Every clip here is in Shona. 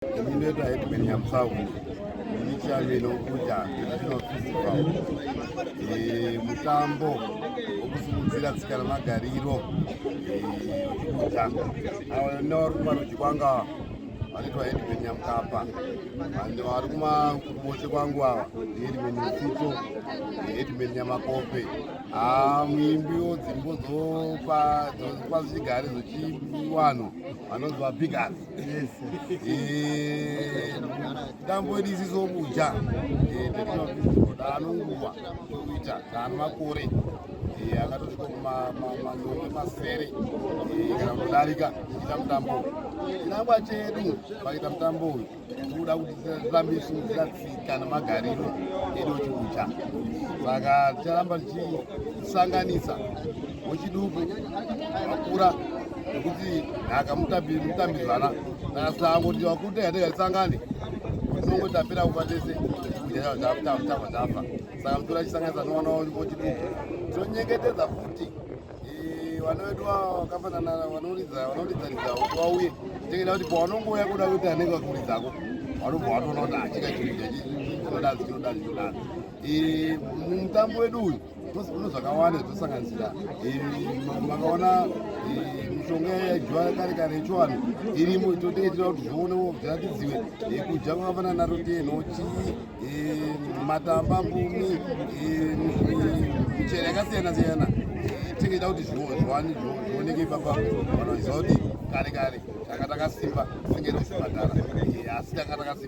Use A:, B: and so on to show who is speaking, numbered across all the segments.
A: Ndinoita Headman Nyamsawu ndichave nokuda National Festival eh, mutambo wokusimudzira tsika nemagariro kuta eh, awo nevarumarudyi kwanga vanoitwa Headman Nyamkapa and vari kumakuruboche kwangu ava Headman Mfito eh, Headman Nyamakope ah, muimbi wodzimbo dzopa zvichigare zvechiwano vanonzi vabigas dambo iri isizobuja daanonguva kuita daanomakore akatosvika kumanonge masere kana kutodarika ita mutambo chinangwa chedu pakuita mutambo uyu tikuda kuti tirambe tichimudzira tsika nemagariro edu chikucha saka ticharamba tichisanganisa wechiduku akura nekuti akamutambidzana nasango kuti wakuda yatekatisangane kunongo tapera kufa tese tafa tafa saka mutora chisanganisa nowana wechiduku tonyengetedza futi vana vedu vakafanana vanoridza vanoridzaridza kuti vauye tekenda kuti pawanongouya kuda kuti anenge vakuridzako vanobva vatoona kuti achika chinoda chinoda chinoda chinoda mutambo wedu uyu Uno zvakawanda zvinosanganisira makaona mishonga yaidyiwa kare kare yechivanhu irimo itoteitira kuti zvionewo zviratidziwe kudya kwakafanana naro tee nhochi matamba mbumi michero yakasiyana siyana tingaita kuti zvioneke ipapa vanoziva kuti kare kare tanga takasimba tingaita zvibhadhara asi tanga takasimba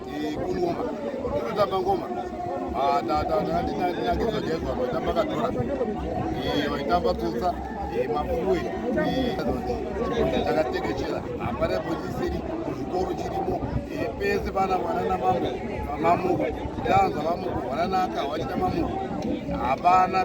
A: Kungoma, ndinotamba ngoma. Ah, ta ta ta ndina ndina kuzwa jezwa vaitamba kadora. Eh, vaitamba tsotsa. Eh, mafuwe. Eh, takatekechera. Hapana pochisiri kuzvikoro chirimo. Eh, pese pana mwana na mambo. Mamuko. Yanzwa mamuko, mwana naka wachita mamuko. Hapana.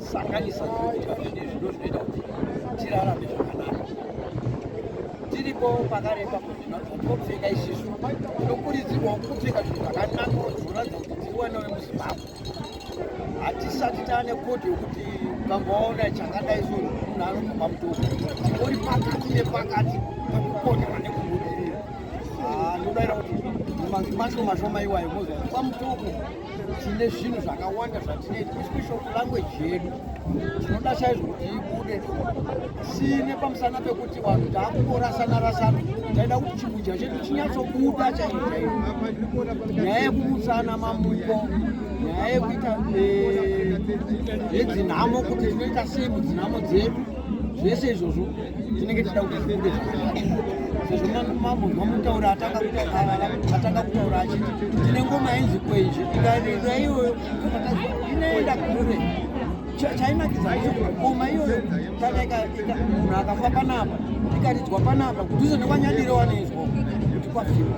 B: Sanganisa zvinoitwa zvine zvido zvinoita kuti tirarame zvakanaka. Tiripo pakareba kuzvina zvotopfeka izvizvo tinokurudzirwawo kupfeka zvinhu zvakanaka zvoratidza kuti tiri wana vemuzimbabwe. Hatisati taane kodhi yokuti ukangoona chakadai so munhu anobva pamutoko uri pakati nepakati pakukonerwa nekubudirira. Ah, Ndinodaira kuti mazimashomashoma iwayo mozwa pamutoko tine zvinhu zvakawanda zvatinoita especial kulanguage yedu tinoda chaizvo kuti ibude sine pamusana pekuti vanhu taakutorasana rasana taida kuti chimudya chedu chinyatsobuda chaizvo chaizvo nyaya yekumutsana mamuko nyaya yekuita eh, yedzinhamo kuti tinoita sei mudzinhamo dzedu zvese izvozvo tinenge tida kuti zvibude zvakanaka sezvo mambo mamutaura atanga kutaura achiti tine ngoma yenzi kwenje ikarira iyoyo inoenda kure chainakidza ndechekuti ngoma iyoyo kana munhu akafa panapa ikaridzwa panapa kudhuze nekwanyadire wanoizwa kuti kwafiwa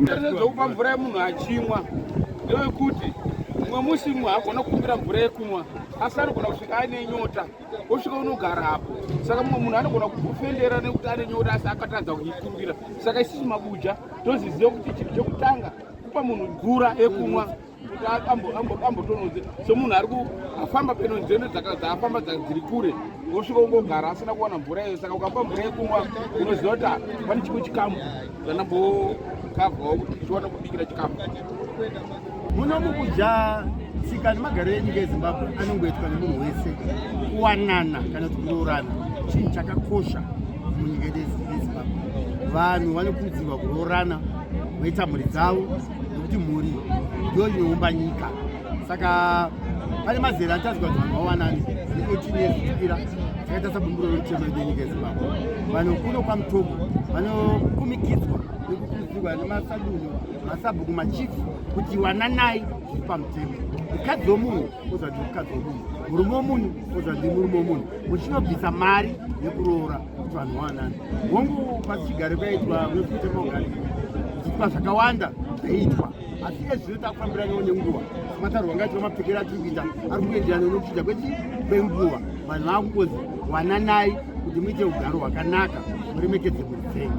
C: Ndine
D: zvekupa mvura yemunhu achimwa ndewekuti mumwe musi mumwe hagona kukumbira mvura yekumwa asi anogona kusvika aine nyota osvika unogara apo saka mumwe munhu anogona kukufendera nekuti ane nyota asi akatadza kuikumbira saka isisi mabuja toziziva kuti chinhu chekutanga kupa munhu mvura yekumwa kuti ambotononzi somunhu ari kufamba peno nzendo dzaafamba dziri kure wosvika ungogara asina kuwana mvura iyo saka ukapa mvura yekumwa unoziva kuti ah, pane chimwe chikamu zvanambokavhawo kuti tichiwana kubikira chikamu
E: muno mukudya tsika nemagariro enyika yezimbabwe anongoitwa nemunhu wese kuwanana kana kuti kuroorana chinhu chakakosha munyika yedu yezimbabwe vanhu vanokurudzirwa kuroorana voita mhuri dzavo nekuti mhuri ndiyo inoumba nyika saka pane mazera atazwa kuti vanhu vawanani vane 18 years kukwira akaita sabumbiro rechema renyika yezimbabwe vanhu kuno kwamutogo vanokumikidzwa nekukurudzirwa nemasadunhu masabhuku machifu kuti wananai zviri pamutemo mukadzi womunhu ozvati mukadzi womunhu murume womunhu ozvati murume womunhu muchinobvisa mari yekuroora kuti vanhu vawanani hongu pasi chigare kwaitwa nokutemogari zvipa zvakawanda zvaitwa asi iye zvino takufambiraniwo nenguva sematarwa ngaitwa mapfekero atiri kuita ari kuenderana nokuchinja kweti kwenguva vanhu vava kungozi wananai kuti muite ugaro hwakanaka muremekedze mhuri dzenyu